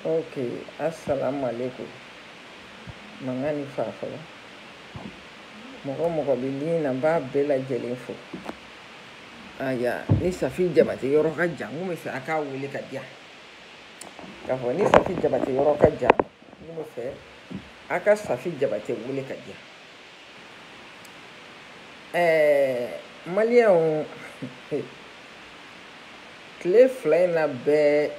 ok asalaamaaleykum mankan ni fa fɔlɔ mɔgɔ mɔgɔ bɛ min na n b'a bɛɛ lajɛlen fo aya ni safi jabate yɔrɔ ka jan n kun bɛ fɛ a k'a wele ka diya k'a fɔ ni safi jabate yɔrɔ ka jan n kun bɛ fɛ a ka safi jabate wele ka diya Ɛɛ maliyɛnw tile fila in na bɛɛ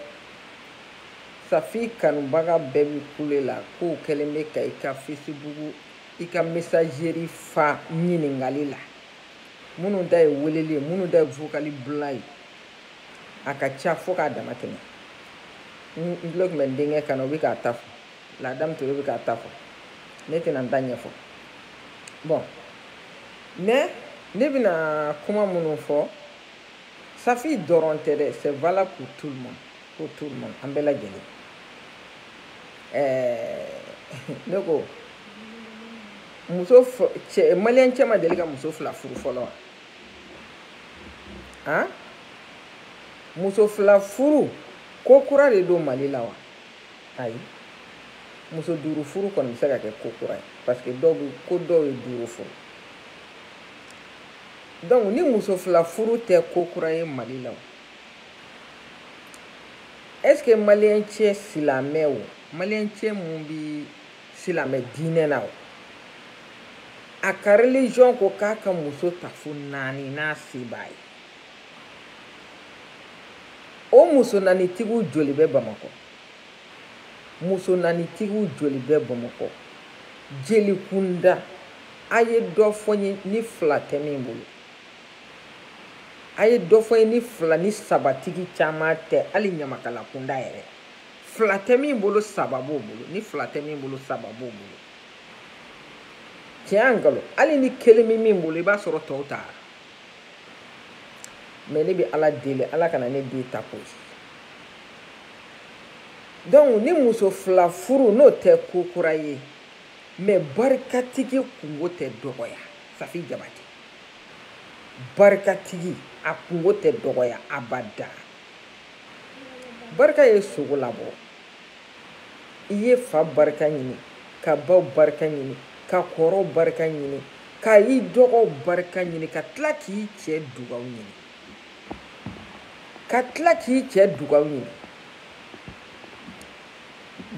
safi kanubaga bɛɛ bɛ kule la k'o kɛlen bɛ ka i ka fesibugu i ka misazeri fa ɲininkali la minnu ta ye weleli ye minnu ta ye vokali bila ye a ka ca fo k'a dama tɛmɛ n tulo tun bɛ n denkɛ kan na o bɛ k'a ta fɔ la dame ture bɛ k'a ta fɔ ne tɛna n ta ɲɛfɔ bɔn mɛ ne bɛna kuma minnu fɔ safi dɔrɔn tɛ dɛ c'est valable pour tout le monde pour tout le monde an bɛɛ lajɛlen ɛɛ ne ko maliyɛn cɛ ma deli ka muso fila furu fɔlɔ wa han muso fila furu ko kura de don mali la wa ayi muso duuru furu kɔni bɛ se ka kɛ ko kura ye parce que ko dɔw ye duuru furu donc ni muso fila furu tɛ ko kura ye mali la est ce que maliyɛn cɛ silamɛw maliyɛn cɛ mun bi silamɛ diinɛ na o a ka religion ko k'a ka muso ta fo naani n'a se b'a ye o muso naanitigiw joli bɛ bamakɔ muso naanitigiw joli bɛ bamakɔ jelikunda a ye dɔ fɔ n ye ni fila tɛ min bolo a ye dɔ fɔ n ye ni fila ni sabatigi caman tɛ hali ɲamakalakunda yɛrɛ fila tɛ min bolo saba b'o bolo ni fila tɛ min bolo saba b'o bolo tiɲɛ nkalon hali ni kelen bɛ min bolo i b'a sɔrɔ tɔw taara mɛ ne bɛ ala deli ala kana ne den ta k'o ye donc ni muso fila furu n'o tɛ ko kura ye mɛ barikatigi kungo tɛ dɔgɔya safi jabate barikatigi a kungo tɛ dɔgɔya abada barika ye sogo labɔ i ye fa barika ɲini ka baw barika ɲini ka kɔrɔw barika ɲini ka i dɔgɔw barika ɲini ka tila k'i cɛ dugaw ɲini ka tila k'i cɛ dugaw ɲini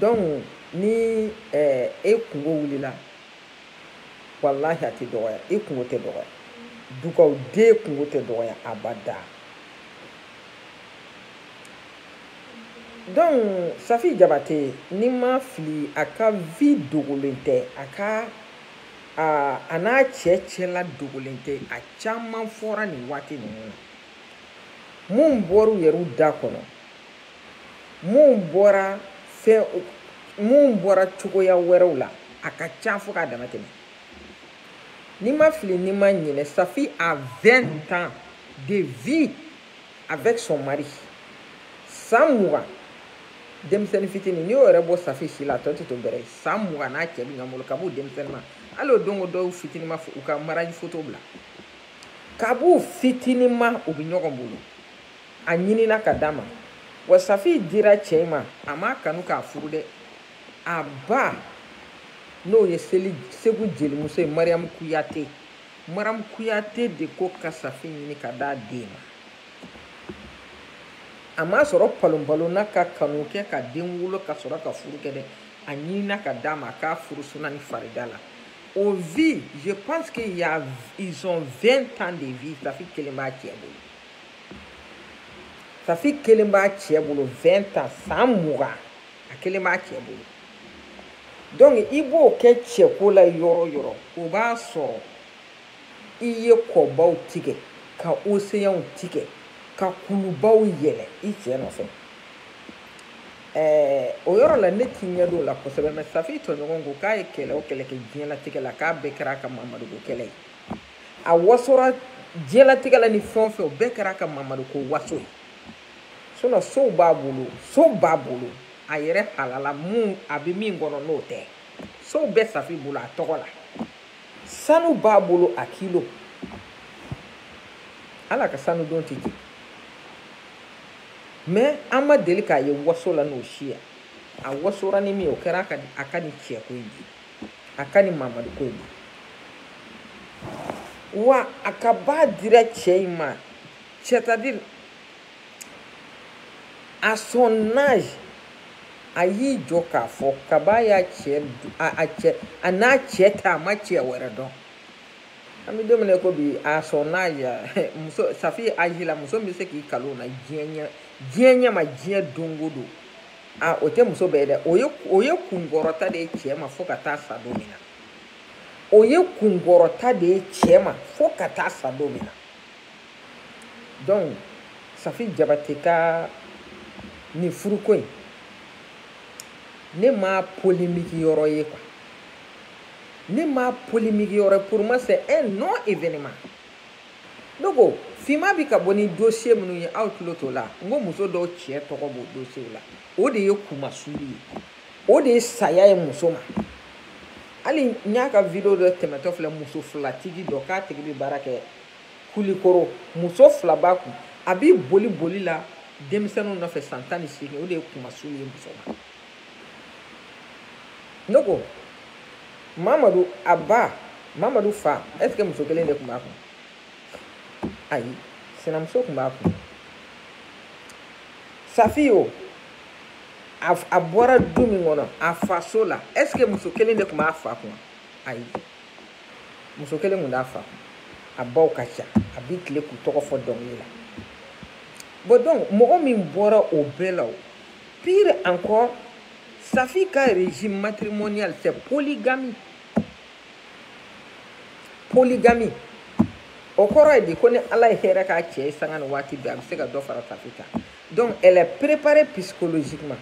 donc ni e kungo wulila walahi a tɛ dɔgɔya i kungo tɛ dɔgɔya dugaw den kungo tɛ dɔgɔya abada donc safi jabate ni ma fili a ka vie dogolen tɛ a ka a n'a cɛ cɛla dogolen tɛ a caman fɔra nin waati ninnu na minnu bɔra u yɛrɛw da kɔnɔ minnu bɔra minnu bɔra cogoya wɛrɛw la a ka ca fo k'a dama tɛmɛ ni ma fili ni ma ɲinɛ safi a 20 ans de vie avec son mari san mugan denmisɛnnin fitini n'i y'o yɛrɛ bɔ safi si la a tɔ tɛ to bɛrɛ ye san mugan n'a cɛ bɛ ɲɔgɔn bolo ka b'u denmisɛnnin ma hali o don dɔw fitini ma u ka mariage foto bila ka b'u fitini ma u bɛ ɲɔgɔn bolo a ɲinina ka d'a ma wa safi dira cɛ ma a m'a kanu k'a furu dɛ a ba n'o ye segu jelimuso ye mariyamu kuyate maram kuyate de ko ka safi ɲini ka d'a den ma a m'a sɔrɔ palonpalonna ka kanu kɛ ka den wolo ka sɔrɔ ka furu kɛ dɛ a ɲinina ka d'a ma k'a furu suna ni farida la o vie je pense que y a ils ont 20 ans de vie safi kelen b'a cɛ bolo safi kelen b'a cɛ bolo 20 ans san mugan a kelen b'a cɛ bolo donc i b'o kɛ cɛko la yɔrɔ yɔrɔ o b'a sɔrɔ i ye kɔbaw tigɛ ka océanw tigɛ ka kulubaw yɛlɛ i cɛ nɔfɛ ɛɛ o yɔrɔ la ne t'i ɲɛ don o la kosɛbɛ mais safi tɔɲɔgɔn ko k'a ye kɛlɛ o kɛlɛ kɛ diɲɛlatigɛ la k'a bɛɛ kɛra a ka mamadu ko kɛlɛ ye a wasora diɲɛlatigɛ la ni fɛn o fɛn o bɛɛ kɛra a ka mamadu ko waso ye sinon sow b'a bolo sow b'a bolo a yɛrɛ halala a bɛ min kɔnɔ n'o tɛ sow bɛ safi bolo a tɔgɔ la sanu b'a bolo a kilo ala ka sanu don tɛ jigin mais an ma deli k'a ye waso la n'o si ye a wasora ni min ye o kɛra a ka nin cɛko in de a ka nin mamadu ko in de wa a ka b'a dira cɛ in ma c'est-à-dire à son âge a y'i jɔ k'a fɔ kaba y'a cɛ a cɛ a n'a cɛ ta a ma cɛ wɛrɛ dɔn an bɛ don min na ko bi à son âge muso safi âge la muso bɛ se k'i kalo na diɲɛ ɲɛ diɲɛ ɲɛ ma diɲɛ don o don a o tɛ muso bɛɛ dɛ o ye o ye kunkɔrɔta de ye cɛ ma fo ka taa sa don min na o ye kunkɔrɔta de ye cɛ ma fo ka taa sa don min na donc safi jabatɛ ka nin furuko in ne ma polémique yɔrɔ ye quoi ne ma polémique yɔrɔ pour moi c'est un non événement ne ko finma bi ka bɔ ni dossier minnu ye aw tulo t'o la n ko muso dɔw cɛ tɔgɔ b'o dossier la o de ye kunmasuuli ye o de ye saya ye muso ma hali n y'a ka video dɔ tɛmɛtɔ filɛ muso filatigi dɔ k'a tigi bɛ baara kɛ kulikoro muso fila b'a kun a b'i boli boli la denmisɛnninw nɔfɛ san tan ni seegin o de ye kunmasuuli ye muso ma ne ko mamadu a ba mamadu fa est ce que muso kelen de tun b'a kun ayi sinamuso tun b'a kun safi o a a bɔra du min kɔnɔ a faso la est ce que muso kelen de tun b'a fa kun ayi muso kelen tun t'a fa a baw ka ca a bɛ tile k'u tɔgɔ fɔ dɔnkili la bon donc mɔgɔ min bɔra o bɛɛ la o pire encore safi ka régime matrimonial c'est polygamie polygamie o kɔrɔ ye di ko ni ala ye hɛrɛ k'a cɛ ye sanga ni waati bɛɛ a bɛ se ka dɔ fara safi kan donc elle est préparée psychologiquement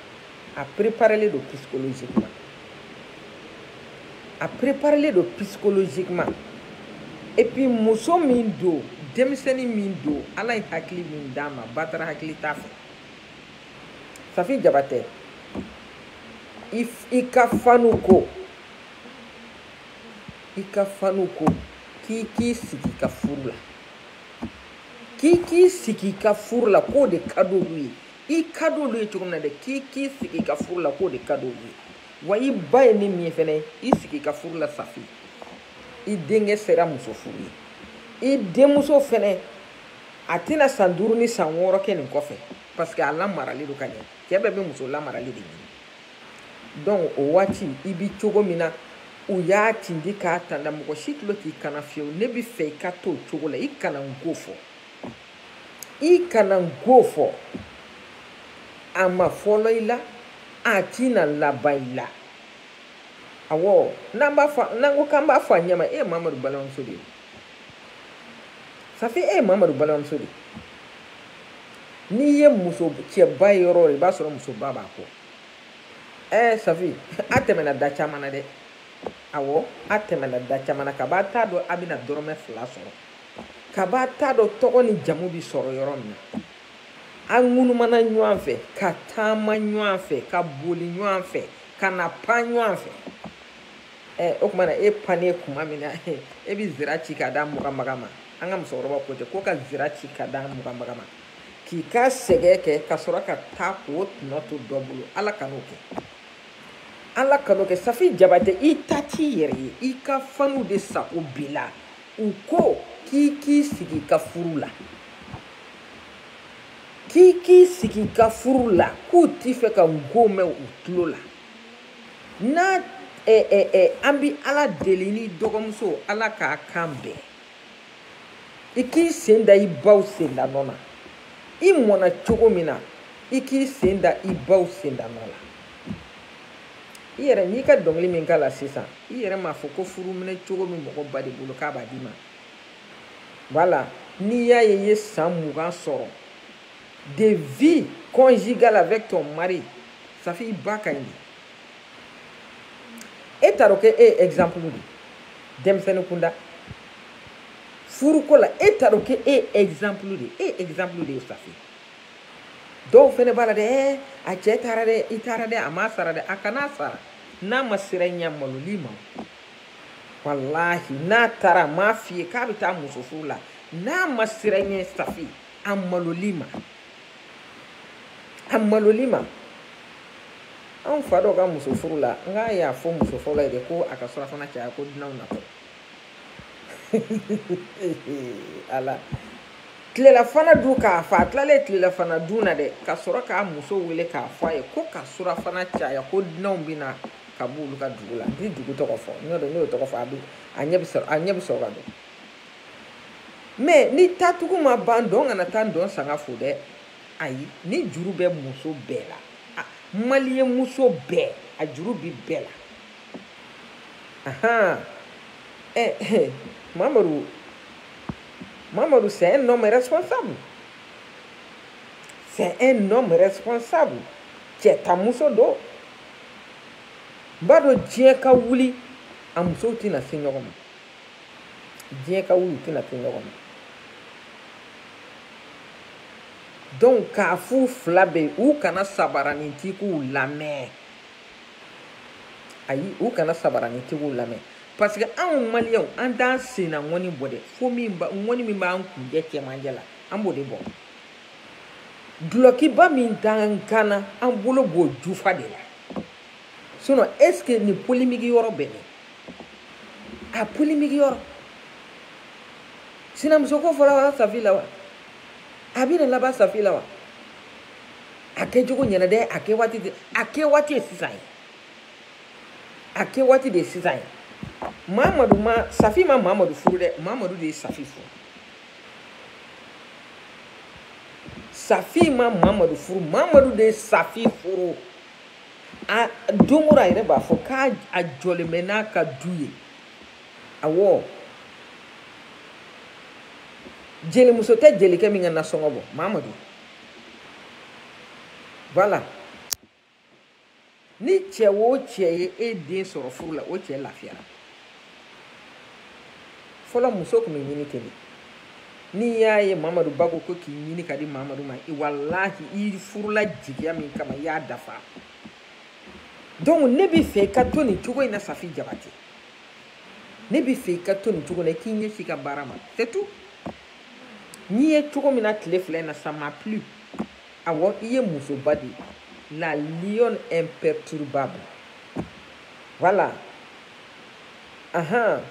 a préparélen don psychologiquement a préparélen don psychologiquement et puis muso min don denmisɛnnin min don ala ye hakili min d'a ma batara hakili t'a fɛ safi jabatɛ i i ka fanw ko i ka fanw ko k'i k'i sigi i ka furu la k'i k'i sigi i ka furu la k'o de ka d'olu ye i ka d'olu ye cogo min na dɛ k'i k'i sigi i ka furu la k'o de ka d'olu ye wa i ba ye ne min ye fɛnɛ i sigi i ka furu la safi i denkɛ sera muso furu ye i denmuso fɛnɛ a tɛna san duuru ni san wɔɔrɔ kɛ nin kɔfɛ parce que a lamaralen don ka ɲɛ cɛ bɛɛ bɛ muso lamaralen de ɲini donc o waati i bi cogo min na u y'a tindi k'a tanda mɔgɔ si tulo t'i kan na fiyewu ne bi fɛ i ka to o cogo la i kana n go fɔ i kana n go fɔ a ma fɔlɔ i la a tɛna laban i la awɔ n'an ko k'an b'a fɔ a ɲɛma e ye mamadu balimamuso de ye safi e ye mamadu balimamuso de ye n'i ye muso cɛba ye yɔrɔ o yɔrɔ i b'a sɔrɔ musoba b'a kɔ ɛɛ safi a tɛmɛna da caman na dɛ awɔ a tɛmɛna da caman na kab'a t'a dɔn a bɛna dɔrɔmɛ fila sɔrɔ kab'a t'a dɔn tɔgɔ ni jamu bɛ sɔrɔ yɔrɔ min na an ŋunumana ɲɔgɔn fɛ ka taama ɲɔgɔn fɛ ka boli ɲɔgɔn fɛ ka na pan ɲɔgɔn fɛ ɛɛ o tuma na e pannen kuma min na e bɛ zira ci ka d'a muganbaga ma an ka musokɔrɔbaw ko ten ko ka zira ci ka d'a muganbaga ma k'i ka sɛgɛn kɛ ka sɔrɔ ka taa k'o tɔnɔ to dɔ bolo ala kan'o kɛ ala kan'o kɛ safi jabate i ta t'i yɛrɛ ye i ka fanw de sago b'i la u ko k'i k'i sigi ka furu la k'i k'i sigi ka furu la k'u tɛ fɛ ka nko mɛn u tulo la n'a eh, eh, eh, an bi ala deli ne dɔgɔmuso ala k'a kan bɛn i k'i sen da i baw sendanɔ na i mɔna cogo min na i k'i sen da i baw sendanɔ la i yɛrɛ n'i ka dɔnkili min k'a la sisan i yɛrɛ m'a fɔ ko furuminɛ cogo min mɔgɔ ba de bolo k'a b'a d'i ma voilà n'i y'a ye i ye san mugan sɔrɔ de vie conjugale avec ton mari safi i ba ka ɲi e t'a dɔn ko e ye exemple de ye denmisɛnnin kunda furuko la e t'a dɔn ko e ye exemple de ye e ye exemple de ye safi dɔw fɛnɛ b'a la dɛ ɛɛ a cɛ taara dɛ i taara dɛ a m'a sara dɛ a kan'a sara n'a ma siran i ɲɛ a malol'i ma walahi n'a taara a m'a f'i ye k'a bɛ taa muso furu la n'a ma siran i ɲɛ safi a malol'i ma a malol'i ma an fa dɔ ka muso furu la n k'a y'a fɔ muso fɔlɔ ye dɛ ko a ka surafana caya ko dunanw natɔ ala tilelafana dun k'a fa a tilalen tilelafana dun na dɛ ka sɔrɔ k'a muso wele k'a fɔ a ye ko ka surafana caya ko dunanw bɛ na ka b'olu ka dugu la n tɛ dugu tɔgɔ fɔ n y'a dɔn n'o tɔgɔ fɔ a bɛ a ɲɛ bɛ sɔrɔ ka don mais ni taatugu ma ban ntɔn kana taa ntɔn sanga fo dɛ ayi nin juru bɛ muso bɛɛ la maliyɛn muso bɛɛ a juru bi bɛɛ la ahan ɛ eh, ɛ eh, mamadu mamadu c'est un homme responsable c'est un homme responsable cɛ ta muso don n b'a dɔn diɲɛ ka wuli a musow tɛna se ɲɔgɔn ma diɲɛ ka wuli u tɛna se ɲɔgɔn ma donc k'a f'u fila bɛɛ ye u kana sabaranintigiw lamɛn ayi u kana sabaranintigiw lamɛn parce que anw maliyɛnw an t'an senna ŋɔni bɔ dɛ fo ŋɔni min b'an kuncɛ cɛmancɛ la an b'o de bɔ dulɔkiba min t'an kan na an bolo b'o jufa de la sinon est ce que nin polimiki yɔrɔ bɛ min a polimiki yɔrɔ sinamuso ko fɔlɔla safi la wa a bɛna laban safi la wa a kɛcogo ɲɛna dɛ a kɛ waati de a kɛ waati ye sisan ye a kɛ waati de ye sisan ye mamadu ma safi ma mamadu furu dɛ mamadu de ye safi furu safi ma mamadu furu mamadu de ye safi furu. a don o don a yɛrɛ b'a fɔ k'a jɔlen bɛ n'a ka du ye awɔ jelimuso tɛ jelikɛ min ka nasɔngɔ bɔ mamadu voilà ni cɛ o cɛ ye e den sɔrɔ furu la o cɛ lafiyara fɔlɔ muso tun bɛ ɲini ten de n'i y'a ye mamadu ba ko ko k'i ɲini ka di mamadu ma walahi i furula jigiya min kama i y'a dafa donc ne bɛ fɛ i ka to nin cogo in na safi jabate ne bɛ fɛ i ka to nin cogo in na i k'i ɲɛsin i ka baara ma surtout n y'i ye cogo min na tile fila in na ça m'a plu awɔ i ye musoba de ye la lionne imperturbable voilà ahan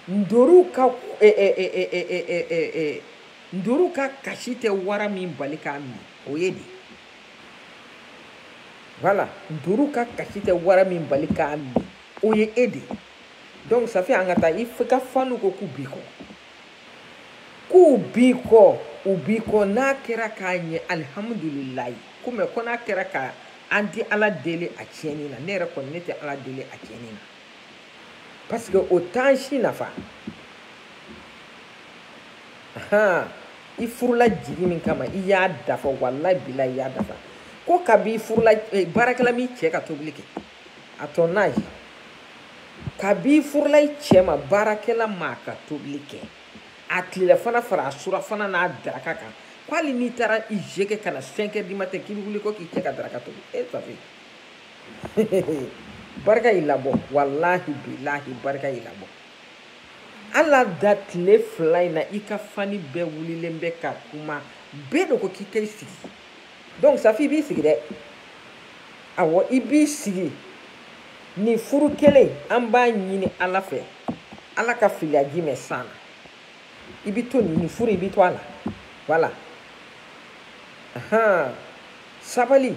ntoriw ka eh, eh, eh, ntoriw ka kasi tɛ wara min bali k'a min o ye e de voilà ntoriw ka kasi tɛ wara min bali k'a min o ye e de donc safi an ka taa i ka fanw ko k'u b'i kɔ k'u b'i kɔ u b'i kɔ n'a kɛra k'a ɲɛ alihamudulilayi ko mais ko n'a kɛra ka an tɛ ala deli a tiɲɛni na ne yɛrɛ kɔni ne tɛ ala deli a tiɲɛni na parce que o t'an si nafa han i furula jigi min kama i y'a dafa walayi bilayi i y'a dafa ko kabi i furula eh, baarakɛla m'i cɛ ka tobili kɛ a tɔ n'a ye kab'i furula i cɛ ma baarakɛla ma ka tobili kɛ a tilelafana fara a surafana n'a daraka kan ko hali n'i taara i je kɛ ka na cinq heures du matin k'i bɛ wuli ko k'i cɛ ka daraka tobi e safi barika y'i labɔ walahi bilahi barika y'i labɔ ala da tile fila in na i ka fani bɛɛ wulilen bɛ ka kuma bɛɛ de ko k'i ka i sigi donc safi i b'i sigi dɛ awɔ i b'i sigi nin furu kelen an b'a ɲini ala fɛ ala ka filiya ji mɛn san na i bɛ to nin furu i bɛ to a la voilà ahan sabali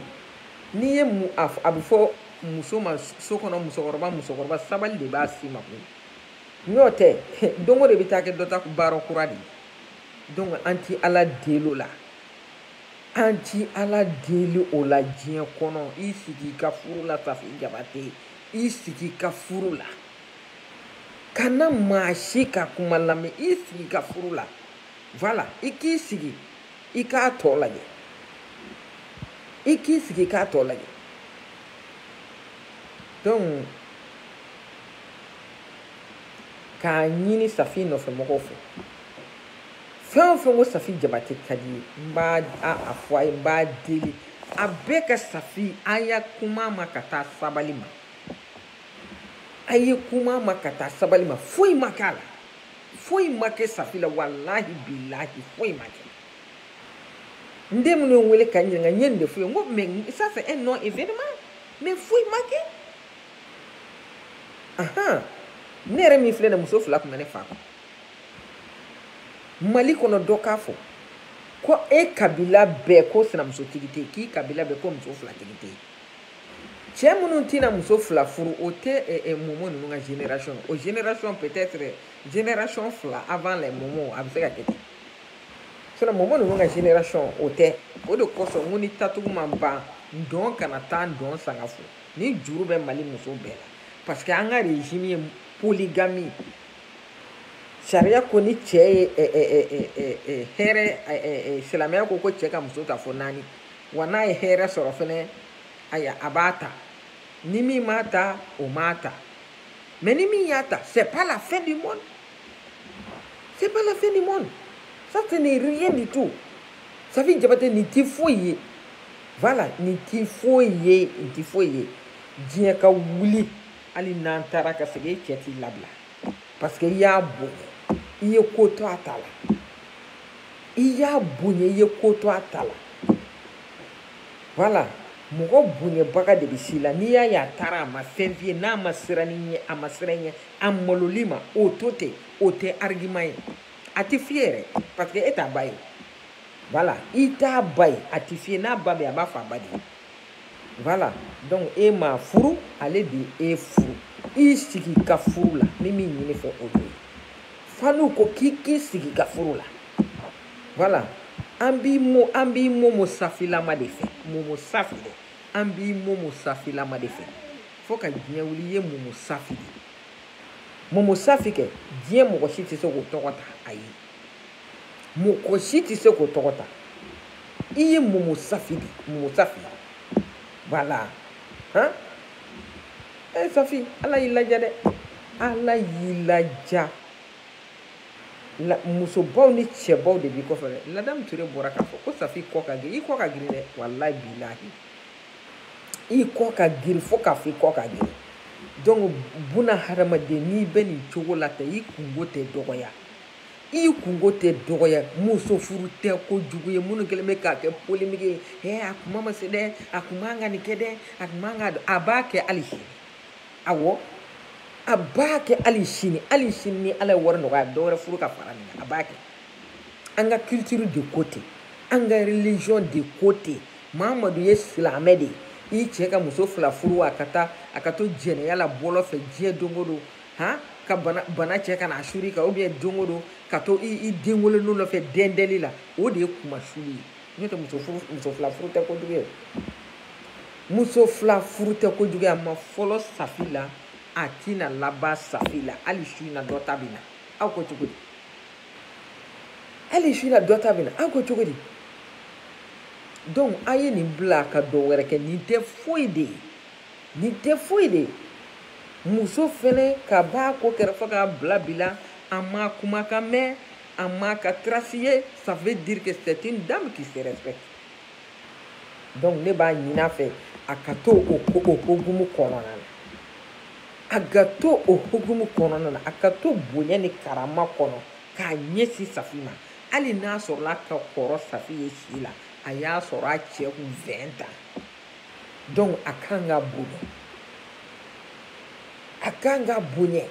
n'i y'a mɛn a bɛ fɔ muso ma so kɔnɔ musokɔrɔba musokɔrɔba sabali de b'a si ma koyi n'o tɛ don o don i bɛ taa kɛ dɔ ta baara kura de ye donc an ti ala deli o la. An tɛ Ala deli o la diɲɛ kɔnɔ i sigi i ka furu la Safi Jabate i sigi i ka furu la kana maa si ka kuma lamɛn i sigi i ka furu la voilà i k'i sigi i k'a tɔ lajɛ i k'i sigi i k'a tɔ lajɛ donc k'a ɲini Safi nɔfɛmɔgɔw fɛ fɛn o fɛn ko safi jabate ka di ye n b'a fɔ a ye n b'a deli a bɛɛ ka safi a ye kuma ma ka taa sabali ma a ye kuma ma ka taa sabali ma foyi ma k'a la foyi ma kɛ safi la walahi bilahi foyi ma kɛ n den minnu ye n wele ka n ɲininka n ye nin de f'u ye n ko mais ça c'est un non événement mais foyi ma kɛ ahan ne yɛrɛ min filɛ nin muso fila tun bɛ ne fa kun mali kɔnɔ dɔ k'a fɔ ko e kabila bɛɛ ko sinamusotigi tɛ k'i kabila bɛɛ ko muso fila tigi tɛ cɛ minnu tɛna muso fila furu o tɛ eh, eh, momo ninnu ka génération o génération peut-être génération fila avant les momo a bɛ se ka kɛ ten sinon momo ninnu ka génération o tɛ o de kosɔn n ko ni tatugu ma ban ntɔn kana taa ntɔn sanga fo nin juru bɛ mali muso bɛɛ la parce que an ka régime ye polygamie sariya ko ni cɛ ye hɛrɛ silamɛya ko ko cɛ ka muso ta fo naani wa n'a ye hɛrɛ sɔrɔ fɛnɛ aya a b'a ta ni min m'a ta o m'a ta mais ni min y'a ta c'est pas la fin du monde c'est pas la fin du monde ça ce n'est rien du tout safi jabate nin ti foyi ye voilà nin ti foyi ye nin ti foyi ye diɲɛ ka wuli hali n'an taara ka segin e cɛ t'i labila parce que i y'a bonya i ye ko to a ta la i y'a bonya i ye ko to a ta la voilà mɔgɔ bonyabaga de bɛ s'i la n'i y'a ye a taara a ma fɛn f'i ye n'a ma siran i ɲɛ a ma siran i ɲɛ a malol'i ma o to ten o tɛ argument ye a tɛ f'i ye yɛrɛ parce que e t'a ba ye voilà i t'a ba ye a tɛ f'i ye n'a ba bɛ yen a b'a fɔ a ba de ye. voilà donc e m'a furu ale de y'e furu i sigi i ka furu la ni min ɲini i fɛ o de ye fanu ko k'i k'i sigi i ka furu la voilà an b'i mo an b'i momo safilama de fɛ momo safi dɛ an b'i momo safilama de fɛ fo ka diɲɛ wuli i ye momo safi de momo safi kɛ diɲɛ mɔgɔ si tɛ se k'o tɔgɔ ta ayi mɔgɔ si tɛ se k'o tɔgɔ ta i ye momo safi de momo safi voilà han e eh, safi ala y'i ladiya dɛ ala y'i ladiya musobaw ni cɛbaw de b'i kɔfɛ dɛ ladamu ture bɔra k'a fɔ ko safi kɔ ka girin i kɔ ka girin dɛ walayi bilahi i kɔ ka girin fo k'a fɔ i kɔ ka girin donc buna hadamaden n'i bɛ nin cogo la ten i kunko tɛ dɔgɔya i kunko tɛ dɔgɔya muso furu tɛ kojugu ye minnu kɛlen bɛ k'a kɛ polémique ye hɛ a kuma ma se dɛ a kun man ka nin kɛ dɛ a kun man kan a b'a kɛ hali sini awɔ a b'a kɛ hali sini hali sini ni ala ye wari nɔgɔya dɔ wɛrɛ furu ka fara nin kan a b'a kɛ an ka culture de ko ten an ka religion de ko ten mamadu ye silamɛ de ye i cɛ ka muso fila furu a ka taa a ka to jɛnɛya la bɔlɔn fɛ diɲɛ don o don han ka bana bana cɛ ka n'a sur'i kan ou bien don o don ka to i i den wololenw nɔfɛ dɛndɛli la o de ye kunmasuli ye n'o tɛ muso furu muso fila furu tɛ kojugu ye muso fila furu tɛ kojugu ye a ma fɔlɔ safi la a tɛna laban safi la hali su in na dɔ ta bɛ na aw ko cogo di hali su in na dɔ ta bɛ na aw ko cogo di donc a ye nin bila ka dɔ wɛrɛ kɛ nin tɛ foyi de ye nin tɛ foyi de muso fɛnɛ kab'a ko kɛra fo k'a bila bi la an m'a kumakan mɛn an m'a ka trace ye ça veut dire que c'est une dame qui se respecte donc ne b'a ɲini a fɛ a ka to o ko o hokumu kɔnɔna na a ka to o hokumu kɔnɔna na a ka to bonya ni karama kɔnɔ k'a ɲɛsin safi ma hali n'a sɔrɔla a ka kɔrɔ safi ye si la a y'a sɔrɔ a cɛ kun 20 ans donc a kan ka bonya a kan ka bonya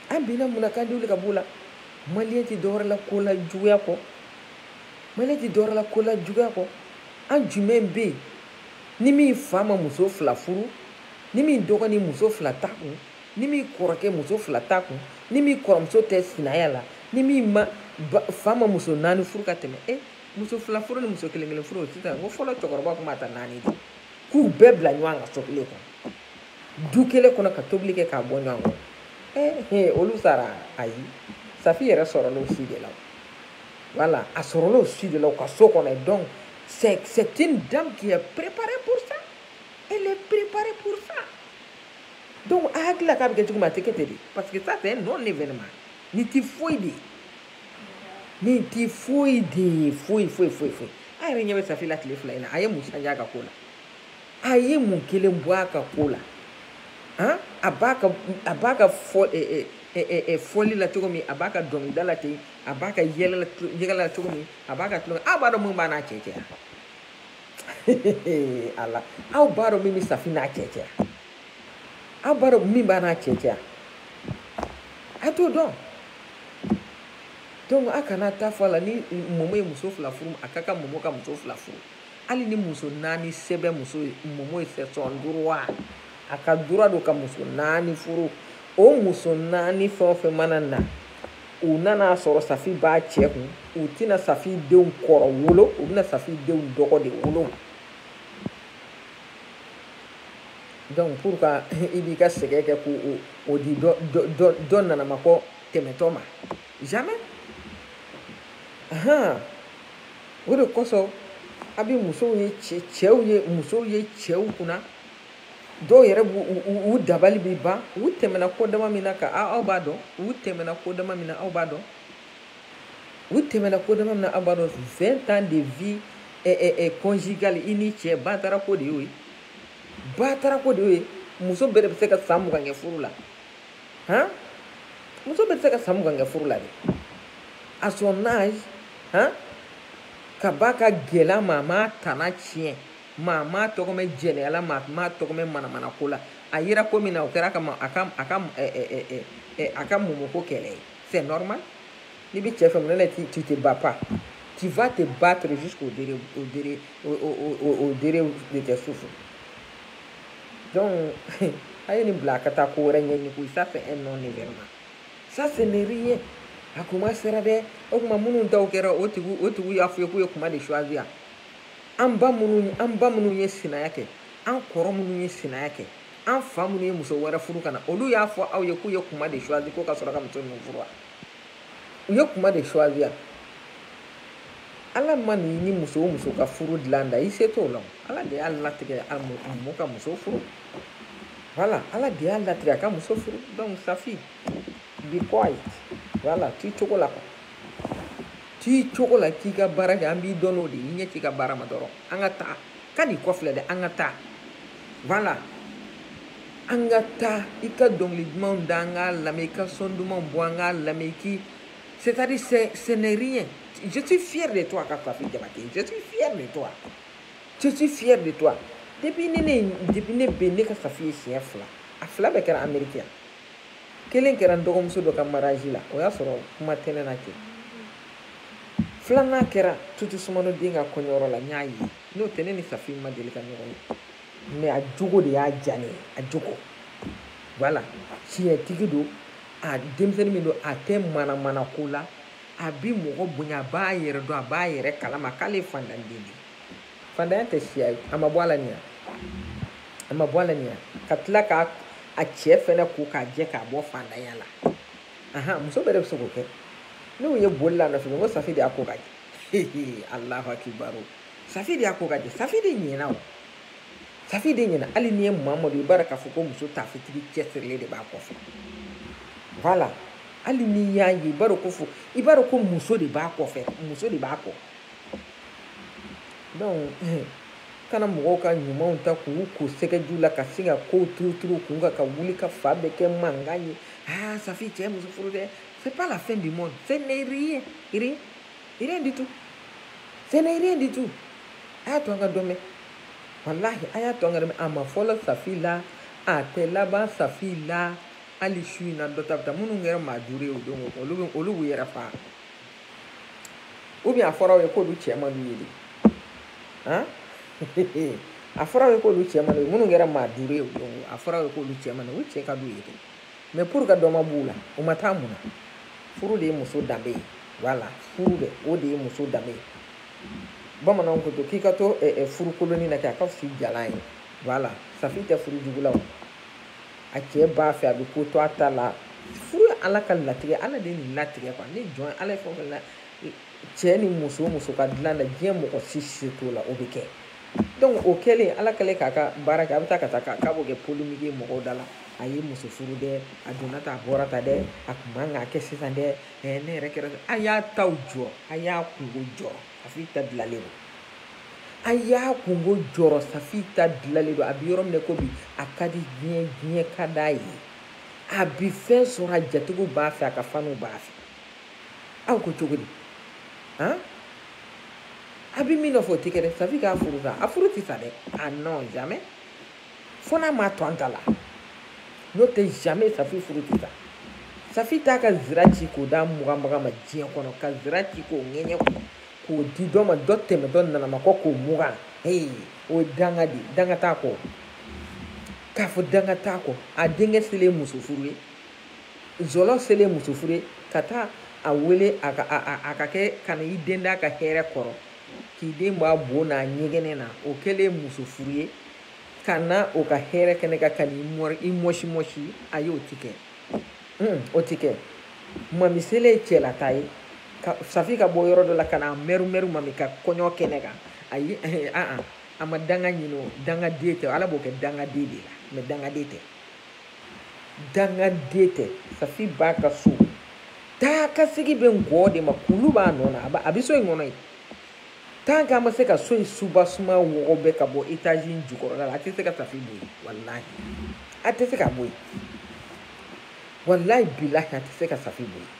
an binna mun na k'an tɛ wuli ka b'o la maliyɛn tɛ dɔwɛrɛ la ko lajuguya kɔ maliyɛn tɛ dɔwɛrɛ la ko lajuguya kɔ an jumɛn bɛ yen ni min fa ma muso fila furu ni min dɔgɔnin muso fila t'a kun ni min kɔrɔkɛ muso fila t'a kun ni min kɔrɔmuso tɛ sinaya la ni min fa ma muso naani furu ka tɛmɛ e muso fila furu ni muso kelen kelen furu sisan ko fɔlɔ cɛkɔrɔba tun b'a ta naani de k'u bɛɛ bila ɲɔgɔn kan so kelen kɔnɔ du kelen kɔnɔ ka tobili kɛ k'a bɔ ɲɔgɔn kɔnɔ ee olu sara ayi safi yɛrɛ sɔrɔla o si de la voilà a sɔrɔla o si de la u ka so kɔnɔ donc c'est une dame qui est préparée pour ça elle est préparée pour ça donc a hakili la k'a bɛ kɛ cogo min a tɛ kɛ ten de parce que ça c'est un non événement nin tɛ foyi de ye nin tɛ foyi de ye foyi foyi foyi foyi a yɛrɛ ɲɛ bɛ safi la tile fila in na a ye mun changer a ka ko la a ye mun kelen bɔ a ka ko la han a b'a ka a b'a ka fɔ ɛɛ ɛɛ fɔli la cogo min a b'a ka dɔnkilida la ten a b'a ka yɛlɛ yɛlɛ la cogo min a b'a ka tulonkɛ aw b'a dɔn mun b'a n'a cɛ cɛ yan. ala aw b'a dɔn min bɛ safi n'a cɛ cɛ aw b'a dɔn min b'a n'a cɛ cɛ a t'o dɔn donc a kana taa fɔ a la ni mɔmɔ ye muso fila furu a ka kan mɔmɔ ka muso fila furu hali ni muso naani sɛbɛn muso ye mɔmɔ ye c'est son droit a ka droit don ka muso naani furu o muso naani fɛn o fɛn mana na u nan'a sɔrɔ safi b'a cɛ kun u tɛna safi denw kɔrɔ wolo u bɛna safi denw dɔgɔ de wolo donc pour ka i b'i ka sɛgɛn kɛ k'o di dɔ dɔ dɔ nanamakɔ tɛmɛtɔ ma jamais ahan o de kosɔn a bɛ musow ye cɛ cɛw ye musow ye cɛw kunna dɔw yɛrɛ b'u u dabali bɛ ban u tɛmɛna ko dama min na ka aw b'a dɔn u tɛmɛna ko dama min na aw b'a dɔn u tɛmɛna ko dama min na aw b'a dɔn vingt ans de vie eh, eh, eh, conjugale i ni cɛ batara ko de y'o ye batara ko de y'o ye muso bɛɛ de bɛ se ka san mugan kɛ furu la han muso bɛɛ bɛ se ka san mugan kɛ furu la dɛ à son âge han k'a ba ka gɛlɛn a ma a m'a tana tiɲɛ maa m'a tɔgɔ mɛn jɛnɛya la maa m'a tɔgɔ mɛn manamana ko la a yera ko min na o kɛra ka ma a ka a ka ɛ ɛ ɛ ɛ a ka mɔmɔ ko kɛlɛ ye c'est normal n'i bɛ cɛ fɛ mun na tu tu te bats pas tu vas te battre jusqu'au dere au dere au au au dere de tes souffles donc a ye nin bila a ka taa ko wɛrɛ ɲɛɲini koyi ça c'est un non événement ça ce n'est rien a kuma sera dɛ o kuma minnu taw kɛra o tigiw o tigiw y'a fɔ ye k'u ye kuma de choisir an ba minnu an ba minnu ye sinaya kɛ an kɔrɔ minnu ye sinaya kɛ an fa minnu ye muso wɛrɛ furu ka na olu y'a fɔ aw ye k'u ye kuma de choisi ko ka sɔrɔ ka muso ninnu furu wa u ye kuma de choisi ya ala mana ni muso o muso ka furu dilan da i se t'o la ala de y'a latigɛ a mɔ ka muso furu voilà ala de y'a latigɛ a ka muso furu donc safi be quiet voilà t'i cogo la quoi t'i cogo la k'i ka baara kɛ an b'i dɔn n'o de ye i ɲɛ t'i ka baara ma dɔrɔn an ka taa kan'i kɔfilɛ dɛ an ka taa voilà an ka taa i ka dɔnkili dumanw da an k'a lamɛn i ka son dumanw bɔ an k'a lamɛn i k'i c'est à dire c'est ce n'est rien je suis fier de toi safi jabate je suis fier de toi je suis fier de toi depuis ne ne depuis ne bɛ ne ka safi ye siɲɛ fila a fila bɛɛ kɛra ameriki yan kelen kɛra n dɔgɔmuso dɔ ka mariage la o y'a sɔrɔ kuma tɛ ne n'a cɛ filanan kɛra tutu sumano den ka kɔɲɔyɔrɔ la n y'a ye n'o tɛ ne ni safi ma deli ka ɲɔgɔn ye mais a jogo de y'a diya ne ye a jogo voilà tiɲɛtigi don a denmisɛnnin min don a tɛ manamana ko la a bi mɔgɔ bonya a b'a yɛrɛ dɔn a b'a yɛrɛ kalama k'ale fandanden de fandanya tɛ siya ye a ma bɔ a la nin a ma bɔ a la nin ka tila k'a a cɛ fɛnɛ ko k'a jɛ k'a bɔ fandanya la ahan muso bɛɛ de bɛ se k'o kɛ ne y'u ye boli la nɔfɛ ko safi de y'a ko ka jɛ alahu akibaru safi de y'a ko ka jɛ safi de ɲɛna o safi de ɲɛna hali n'i ye mamadu i b'a dɔn k'a fɔ ko muso taafetigi cɛsirilen de b'a kɔfɛ voilà hali n'i y'a ye i b'a dɔn ko fo i b'a dɔn ko muso de b'a kɔfɛ muso de b'a kɔ donc eh, kana mɔgɔw ka ɲumanw ta k'u ko sɛgɛji la ka sin ka kow turuturu kun ka ka wuli ka fan bɛɛ kɛ mankan ye aa ah, safi cɛ muso furu dɛ c'est pas la fin du monde ce n'est rien rien rien du tout ce n'est rien du tout a y'a to an ka dɔ mɛn walahi a y'a to an ka dɔ mɛn a ma fɔlɔ safi la a tɛ laban safi la hali su in na dɔ ta bɛ taa minnu kɛra maa duuru ye o don olu bɛ olu b'u yɛrɛ faga ou bien a fɔra aw ye k'olu cɛ man d'u ye de han a fɔra aw ye k'olu cɛ man d'u ye minnu kɛra maa duuru ye o don a fɔra aw ye k'olu cɛ man d'u ye u cɛ ka d'u ye de mais pour que dɔ ma b'u la u ma taa mun na furu de ye muso danbe ye voilà furu dɛ o de ye muso danbe ye bamananw ko to k'i ka to furu kolonnin na kɛ a ka fisa i jalan ye voilà safi tɛ furu jugu la o a cɛ b'a fɛ a bɛ ko to a ta la furu ye ala ka latigɛ ala de ye nin latigɛ quoi ni jɔn ala ye fɛn o fɛn la cɛ ni muso muso ka dilan na diɲɛ mɔgɔ si se t'o la o bɛ kɛ donc o kɛlen ala kɛlen k'a ka baara kɛ a bɛ taa ka taa k'a b'o kɛ polémique ye mɔgɔw da la a ye muso furu dɛ a donna tan a bɔra tan dɛ a kun man k'a kɛ sisan dɛ ne yɛrɛ kɛra a y'a taw jɔrɔ a y'a kunko jɔrɔ safi ta dilalen don a y'a kunko jɔrɔ safi ta dilalen don a bɛ yɔrɔ min na ko bi a ka di diɲɛ diɲɛ ka d'a ye a bi fɛn sɔrɔ a jatigiw b'a fɛ a ka faniw b'a fɛ aw ko cogo di han a bɛ min nɔfɛ o tɛ kɛ dɛ safi k'a furu sa a furu tɛ sa dɛ ah non jamais fo n'a ma to an ta la n'o tɛ jamais safi furu tɛ sa safi t'a ka zira ci k'o d'a muganbaga ma diɲɛ kɔnɔ ka zira ci k'o ɲɛɲɛ k'o k'o di dɔ ma dɔ tɛmɛtɔ nana maa kɔ k'o mugan ee o ye danga de danga t'a kɔ k'a fɔ danga t'a kɔ a denkɛ selen muso furu ye zɔlɔ selen muso furu ye ka taa a wele a ka a a a ka kɛ ka na i den d'a ka hɛrɛ kɔrɔ k'i den bɔ a bo n'a ɲɛgɛnɛ na o kɛlen muso furu ye ka na o ka hɛrɛ kɛnɛ kan ka n'i mɔsi mɔsi ayi o ti kɛ hmm, o tɛ kɛ mami selen ye cɛlataa ye safi ka bɔ yɔrɔ dɔ la ka na mɛru mɛru mami ka kɔɲɔ kɛnɛ kan ayi aa a ma danga ɲini o dangaden tɛ ala b'o kɛ dangaden de la mais dangaden tɛ dangaden tɛ safi b'a ka so taa ka segin bɛ ngɔn de ma kulu b'a nɔ na a bɛ so in kɔnɔ yen tant que a ma se ka so in soubassement wɔgɔ bɛɛ ka bɔ étage in jukɔrɔla la a tɛ se ka safi bɔ yen walayi a tɛ se ka bɔ yen walayi bilahi a tɛ se ka safi bɔ yen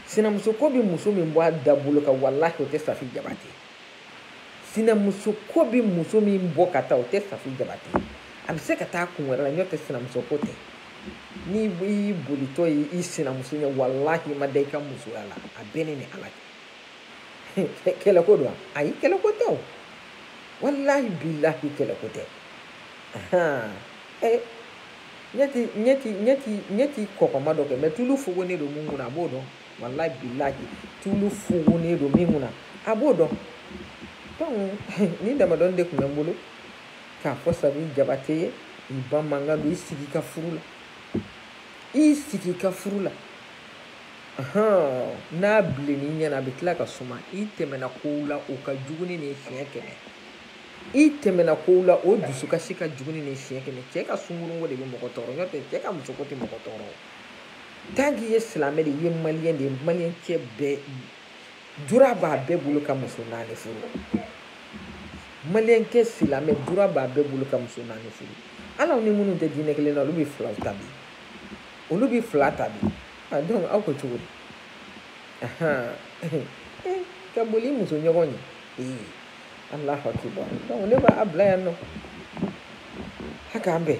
sinamuso ko bɛ muso min bɔ a da bolo kan walahi o tɛ safi jabate sinamuso ko bɛ muso min bɔ ka taa o tɛ safi jabate a bɛ se ka taa kun wɛrɛ la n'o tɛ sinamuso ko tɛ n'i y'i bolitɔ ye i sinamuso ɲɛ walahi i ma da i ka musoya la a bɛ ne ni ala cɛ kɛlɛko don ayi kɛlɛko tɛ o walahi bilahi kɛlɛko tɛ eh, ɲɛ ti ɲɛ ti ɲɛ ti ɲɛ ti kɔkɔma dɔn kɛ mais tulu fogonnen don min kunna a b'o dɔn walahi bilahi tulu fogonnen don min kunna a b'o dɔn donc nin damadɔnin de tun bɛ n bolo k'a fɔ safi jabate ye i ba mankan don i sigi ka furu la i sigi ka furu la n'a bilenni ɲɛna a bɛ tila ka suma i tɛmɛna kow la o ka jugu ni nin siɲɛ kɛmɛ i tɛmɛna kow la o dusukasi ka jugu ni nin siɲɛ kɛmɛ cɛ ka sungurunko de bɛ mɔgɔ tɔɔrɔ n'o tɛ cɛ ka musoko tɛ mɔgɔ tɔɔrɔ tant que i ye silamɛ de ye maliyɛn de ye maliyɛn cɛ bɛɛ droit b'a bɛɛ bolo ka muso naani furu maliyɛn cɛ silamɛ droit b'a bɛɛ bolo ka muso naani furu hali an ni minnu tɛ diinɛ kelen na olu bɛ fila ta bi olu bɛ fila ta bi donc aw ko cogo di ka boli muso ɲɔgɔn ye ee Allahu akibar donc ne b'a bila yan nɔ ha k'an bɛn